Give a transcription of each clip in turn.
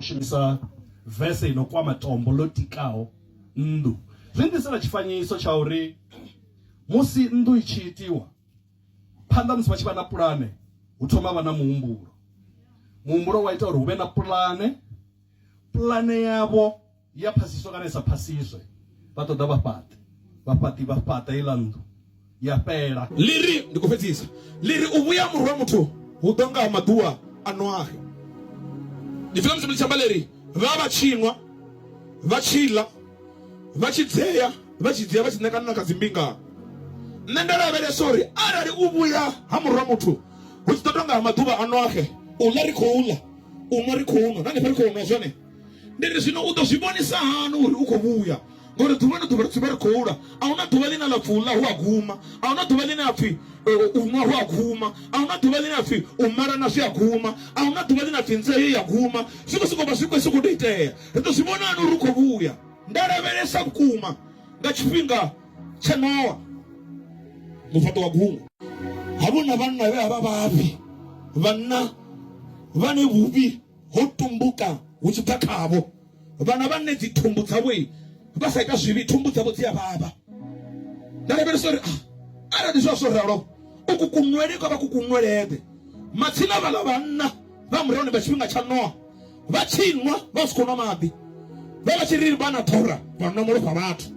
Shumisa vese i no kwama tombo ḽo tikaho nnḓu. Zwi nnḓisela tshifanyiso tsha uri musi nnḓu i tshi itiwa, phanḓa musi vha tshi vha na pulane, hu thoma ha vha na muhumbulo. Muhumbulo wa ita uri hu vhe na pulane, pulane yavho ya phasiswa kana i sa phasiswe, vha ṱoḓa vhafhaṱi, vhafhaṱi vha fhaṱa heiḽa nnḓu. ya fhela ḽi ri ndi khou fhedzisa ḽi ri u vhuya murwa muthu hu ḓo nga maḓuwa a noahe ndi pfela musi ḽi tshamba ḽi ri vha vha tshinwa vha tshi ḽa vha tshi dzea vha tshi dzea vha tshi ṋekana na kha dzimbinga nṋe nda lavhelesa uri arali u vhuya ha murwa muthu hu tshi ḓo tonga ha maḓuvha a noahe u ḽa ri khou ḽa u nwa ri khou nwa na hanefha ri khou nwa zwone ndi ri zwino u ḓo zwi vhonisa hani uri u khou vhuya ngori ḓuvha na ḓuvha ri dzivha ri khou la a huna ḓuvha ḽine ḽa pfhi u ḽa hu a guma a huna ḓuvha ḽine a pfhi u nwa hu a guma a huna ḓuvha ḽine a pfhi u malana zwi a guma a huna ḓuvha ḽine a pfhi nzeo ya guma zwi khou sokou vha zwi khou sokou tou itea ri ḓo zwi vhona hani uri u khou vhuya nda lavhelesa vhukuma nga tshifhinga tsha nowa mufhaṱo wa gungu havhuna vhanna vhe a vha vhafhi vhanna vhane vhuvhi ho tumbuka hu tshi bva khavho vhana vhane dzi thumbu dzavho vha sa ita zwivhi thumbu dzavho dzi a vhavha nda lavhelesa uri ah, arali zwa zwo ralo uku kunwele kwa vha ku kunwelede matsina vhala vhanna vha murahuni vha tshifhinga tsha noa vha tshi nwa vha si khou nwa maḓi vha vha tshi ri vha na ḓora vha nwa malofha vhathu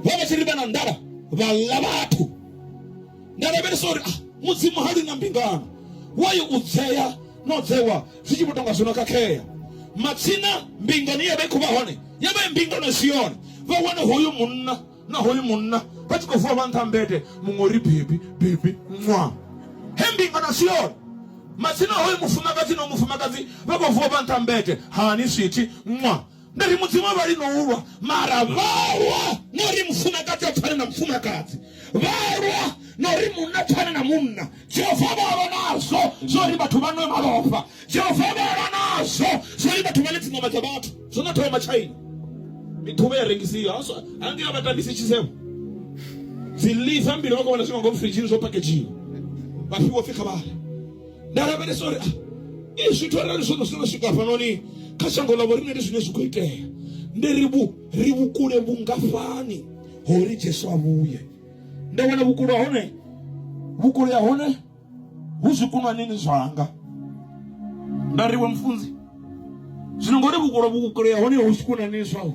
vha vha tshi ri vha na nḓala vha ḽa vhathu nda lavhelesa uri ah, mudzimu ha lwi na mbingano wayo u dzea no dzewa zwi tshi vho tonga zwo no khakhea matsina mbingano ye ya vha i khou vha hone ya vha i mbingano i si yone vha wane hoyu munna na hoyu munna vha tshi khou vuwa vha nṱha mbete muṅwe uri bebi bebi ṅwa he mbingano si yone matsina hoyu mufumakadzi no mufumakadzi vha khou vuwa vha nṱha mbete hani swithi ṅwa Ndi ri Mudzimu a vha lino u lwa, mara vha lwa na uri mufumakadzi a pfane na mufumakadzi, vha lwa na uri munna a pfane na munna. Jehova vha lwa nazwo zwa uri vhathu vha nwe malofha. Jehova vha lwa nazwo zwa uri vhathu vha ḽe dziṋama dza vhathu. Zwo no thoma China, miḓuvha ya rengisiwa hangei a vha tambisi tshisevho, dzi liver mbili vha khou vhona zwi nga ngomu firidzhini zwo pakedzhiwa, vha fhiwa pfi kha vha ḽe. nda lavhelesa uri i zwithu arali zwono zwino swika hafhanoni kha shango ḽa vhoriṋe ndi zwine zwi khou itea ndi ri vhu ri vhukule vhungafhani ho uri jesu a vhuye nda wana vhukule ha hone vhukule ha hone hu zwikunwanini zwanga nda ri we mufunzi zwino ngori vhukule vhukule ha hone hu zwikunwanini zwau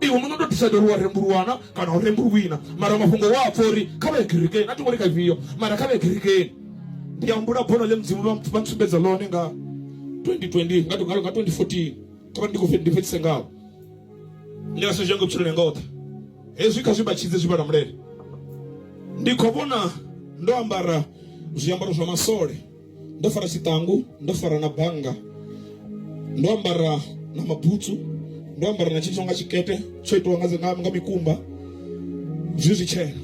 iwe muno ndo decide uri wa rembuluwana kana u rembuluwina mara mafhungo wa pfa uri kha vha ye kerekeni a thi ngo ri kha ifhio mara kha vha ye kerekeni ndi ya mbula bono ḽe mudzimu vha vha ntsumbedza ḽone nga 2020 nga nga nga 2014 kha vha ndi khou fhe- ndi fhedzise ngawo ndi nga senzhe ngo vhutshiloni hanga oṱhe hezwi kha zwi vhatshidze zwi vhala mulele ndi khou vhona ndo ambara zwiambaro zwa masole ndo fara tshiṱangu ndo fara na bannga ndo ambara na mabutsu ndo ambara na tshithu nga tshikete tsho itiwa nga, nga, nga mikumba zwi zwi tshena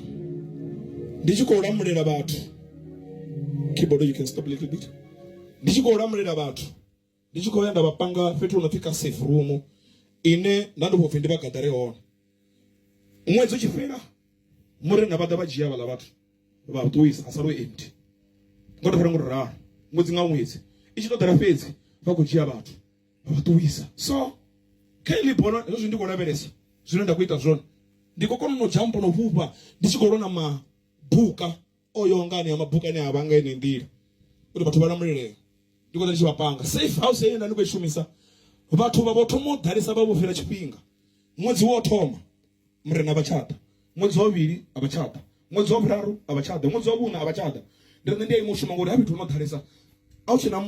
ndi tshi khou lamulela vhathu keyboard you can stop a little bit ndi tshi khou lamulela vhathu ndi tshi khou ya nda vha panga fhethu hu no pfi ka safe room ine nda ndi khou pfi ndi vha gadare hone ṅwedzi u tshi fhela murena vha ḓa vha dzhia vhaḽa vhathu vha ṱuwisa ha salwe empty ngo to fara ngo ralo ṅwedzi nga ṅwedzi i tshi ṱoḓela fhedzi vha khou dzhia vhathu vha vha ṱuwisa so kha ili bono hezwo zwithu ndi khou lavhelesa zwine nda khou ita zwone ndi khou kona no dzhampa no fhufha ndi tshi khou lona mabuka o yaho nga anea mabuka ane a vha nga enei nḓila uri vhathu vha lamulelea ndi khou ḓa ndi tshi vha panga safe house heyo nda ndi khou i shumisa vhathu vha vho thoma u ḓalesa vha vho fhira tshifhinga ṅwedzi wo thoma murena vha tsha ḓa ṅwedzi wa vhuvhili a vha tsha ḓa ṅwedzi wa vhuraru a vha tsha ḓa ṅwedzi wa vhuṋa a vha tsha ḓa ndi nṋe ndi a ima u shuma ngori ha fhethu hu no ḓalesa a hu tshena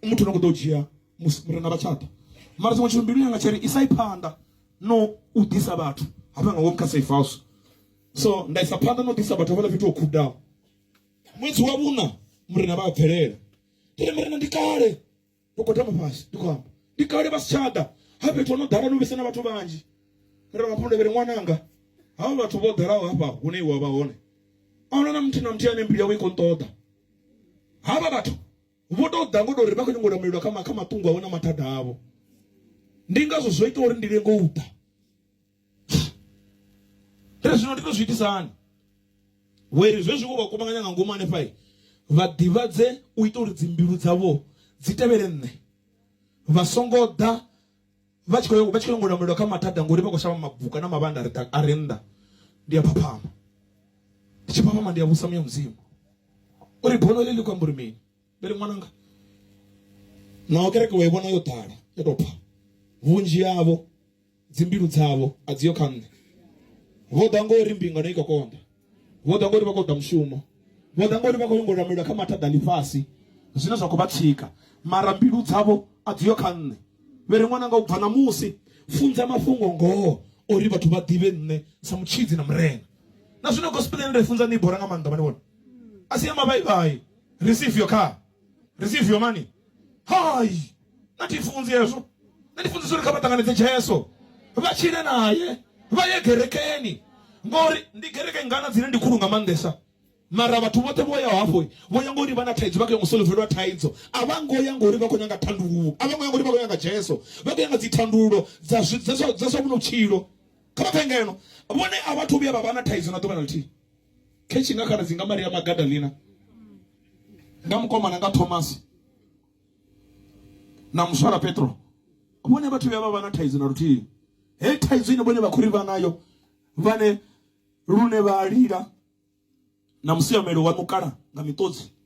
muthu no kho ḓo dzhia murena vha tshaḓa mara tshiṅwe tshithu mbilu yanga tshiri isai phanḓa no u ḓisa vhathu hafha nga ngomu kha safe house so nda isa phanḓa na u ḓisa vhathu havhala fhethu ho khudaho ṅwedzi wa vhuna murena vha a bvelela ndi ri murena ndi kale ndo gwadama fhasi ndi khou amba ndi kale vha si tsha ḓa ha fhethu ho no ḓala no vhesa na vhathu vhanzhi murena vha pulevele ṅwananga havha vhathu vho ḓalaho hafha hune iwe wa vha hone a huna na muthu na muthu ane mbilu yawe i khou nṱoḓa havha vhathu vho tou ḓa ngo tou ri vha khou nyanga u lamulela kha kha maṱungu avho na mathada avho ndi ngazwo zwo ita uri ndi lenge u ḓa ri zwino ndi to zwi itisa hani weri zwezwi wo vha kuvhanganya nga ngomu hanefha vha ḓivhadze u ita uri dzimbilu dzavho dzi tevhele nṋe vha songo ḓa vha tshi khou vha tshi khou nyanga u lamulela kha mathada ngori vha khou shavha mabuka na mavhanda a re ḓa- a re nnḓa ndi a phaphama ndi tshi phaphama ndi a vhusa muya mudzimu uri bono ḽi ḽi khou amba uri mini vhe ri ṅwananga naho kereke wa i vhona yo ḓala yo tou pfa vhunzhi havho Dzimbilu dzavho a dzi ho kha Nṋe. Vho ḓa ngori mbingano i khou konḓa. Vho ḓa ngori vha khou ṱoḓa mushumo. Vho ḓa ngori vha khou nyaga u lamulela kha mathada a ḽifhasi zwine zwa khou vha tsika. Mara mbilu dzavho a dzi ho kha Nṋe. Vhe ri, Ṅwananga, u bva ṋamusi, funza mafhungo-ngoho uri vhathu vha ḓivhe Nṋe sa Mutshidzi na Murena. Na zwino gospel ine nda i funza ni i bora nga maanḓa, vha ni vhona. A si ya mavhai-vhai, receive your car. receive your money hai na thi funzi hezwo na ndi funzisa uri kha vha ṱanganedze jesu vha tshile naye vha ye gerekeni ngori ndi gereke ngana dzine ndi khulu nga maanḓesa mara vhathu vhoṱhe vho yaho hafho vho ya ngori vha na thaidzo vha khou ya ngo solovelwa thaidzo a vha ngo ya ngori vha khou nyanga thandululo a vha ngo ya ngori vha khou nyanga jesu vha khou nyanga dzithandululo dza zwi- dza zwa dza zwa vhuno vhutshilo kha vha phe ngeno vhone a vhathu vhuya vha vha na thaidzo na ḓuvha na ḽithihi khetshe nga khaladzi nga maria magadalina nga mukomana nga thomasi na muswara petro vhone vhathu vhuya vha vha na thaidzo na luthihi he thaidzo ine vhone vha khou ri vha nayo vhane lune vha lila na musiamelo wa mukala nga miṱodzi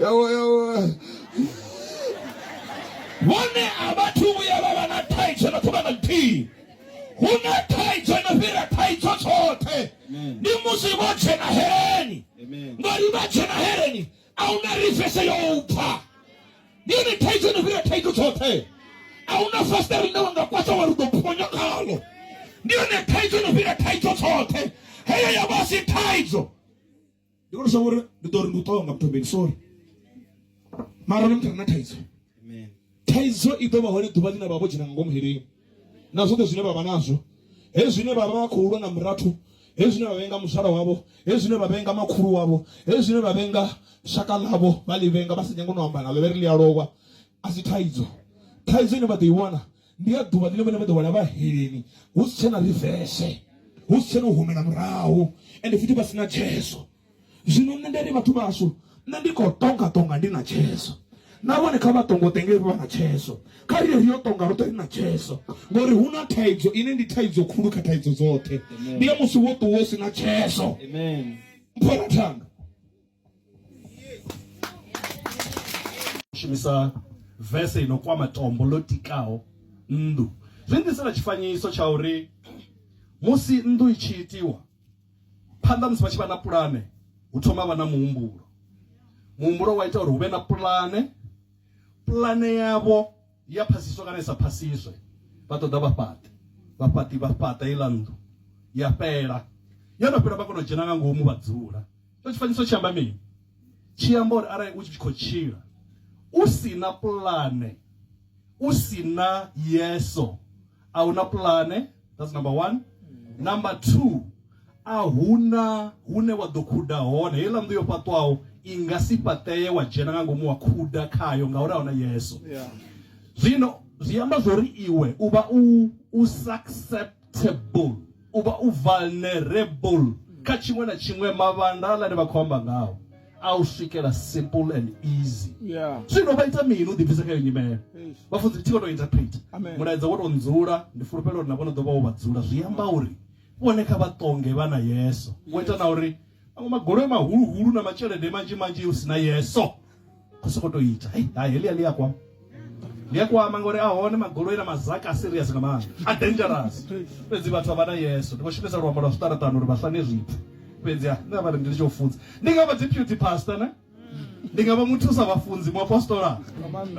yawa yawa vhone a vhathu vhuya vha vha na thaidzo na ṱuvha na ḽithihi hu na thaidzo no fhira thaidzo tshoṱhe ndi musi vho dzhena hereni ngori vha dzhena hereni a hu na rifese yo u pfa ndi yone thaidzo no fhira thaidzo tshoṱhe a hu na fasiṱere ḽine wa nga kwasa wa ri ḓo phonya khalo ndi yone thaidzo no fhira thaidzo tshoṱhe heyo ya vha si thaidzo ndi kone shavha uri ndi ḓo ri ndi u ṱonga muthobeni sorry mara ni muthu re na thaidzo Amen. thaidzo i ḓo vha hone ḓuvha ḽine vha vho dzhena nga ngomu heleni na zwoṱhe zwine vha vha nazwo hezwi zwine vha vha vha khou lwa na murathu hezwi zwine vha vhenga muzwala wavho hezwi zwine vha vhenga makhulu wavho hezwi zwine vha vhenga shaka ḽavho vha ḽi vhenga vha sa nyanga no amba naḽo vhe ri ḽi a lowa a si thaidzo thaidzo ine vha ḓo i wana ndi ya ḓuvha ḽine vhone vha ḓo wela vhaheleni hu si tshena rivese hu si tshena u humela murahu ende futhi vha si na tsheso zwino nṋe ndi ri vhathu vhashu nṋe ndi khou tonga tonga ndi na tsheso na vhone kha vha tongo tenge vha na tsheso kha ri ri yo tonga roṱhe ri na tsheso ngori hu na thaidzo ine ndi thaidzo khulu kha thaidzo dzoṱhe ndi ya musi wo ṱuwa u si na tsheso mphora thanga shumisa vese ino kwama tombo ḽo tikaho nnḓu zwi ḓisela tshifanyiso tsha uri musi nnḓu i tshi itiwa phanḓa musi vha tshi vha na pulane hu thoma vha na muhumbulo muhumbulo wa ita uri hu vhe na pulane pulane yavho ya phasiswa kana i sa phasiswe vha ṱoḓa vha fhaṱe vhafhaṱi vha fhaṱa iḽa nnḓu ya fhela yo no fhela vha kona u dzhena nga ngomu vha dzula tsho tshifanyiso tshi amba mini tshi amba uri arali u tshi khou tshila u si na pulane u si na yeso a hu na pulane that's number one number two a huna hune wa ḓo khuda hone heiḽa nnḓu yo fhaṱwaho i nga si fhaṱeye wa dzhena nga ngomu wa khuda khayo ngauri a huna yeso yeah. zwino zwi amba zwori iwe u vha u u susceptible U vha u vulnerable kha tshiṅwe na tshiṅwe mavhandala ane vha khou amba ngao a u swikela simple and easy Yeah. zwino vha ita mini u ḓibvisa kha iyo nyimele Eish. vhafunzi thi vho tou interpreta Amen. mulaedza wo tou ndzula ndi fulufhela uri na vhono ḓo vha wo vha dzula zwi amba uri vhone kha vha ṱonge vha na yeso wo ita na uri maṅwe magoloi mahuluhulu na matshelede manzhi manzhi u si na yeso u soko to ita hey, hai helia lia kwama lia kwama ngori a hone magoloi na mazaka a serious nga maanḓa a dangerous fhedzi vhathu avha na yeso ndi vho shumisa luambo lwa zwiṱaraṱani uri vha sane zwithu fhedzi a nṋe avha ndi litsho funza ndi nga vha dzi beauty pastor ne ndi nga vha muthu sa vhafunzi mu apostola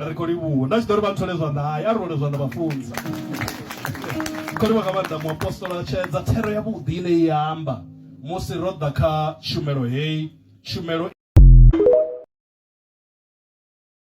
ri kho livhuwa nda tshi ḓo ri vha nthole zwanḓa hai a ri role zwanḓa vhafunza khori vha nga maanḓa mu apostola tshedza thero ya vhuḓi ine i amba musi ro ḓa kha tshumelo heyi tshumelo.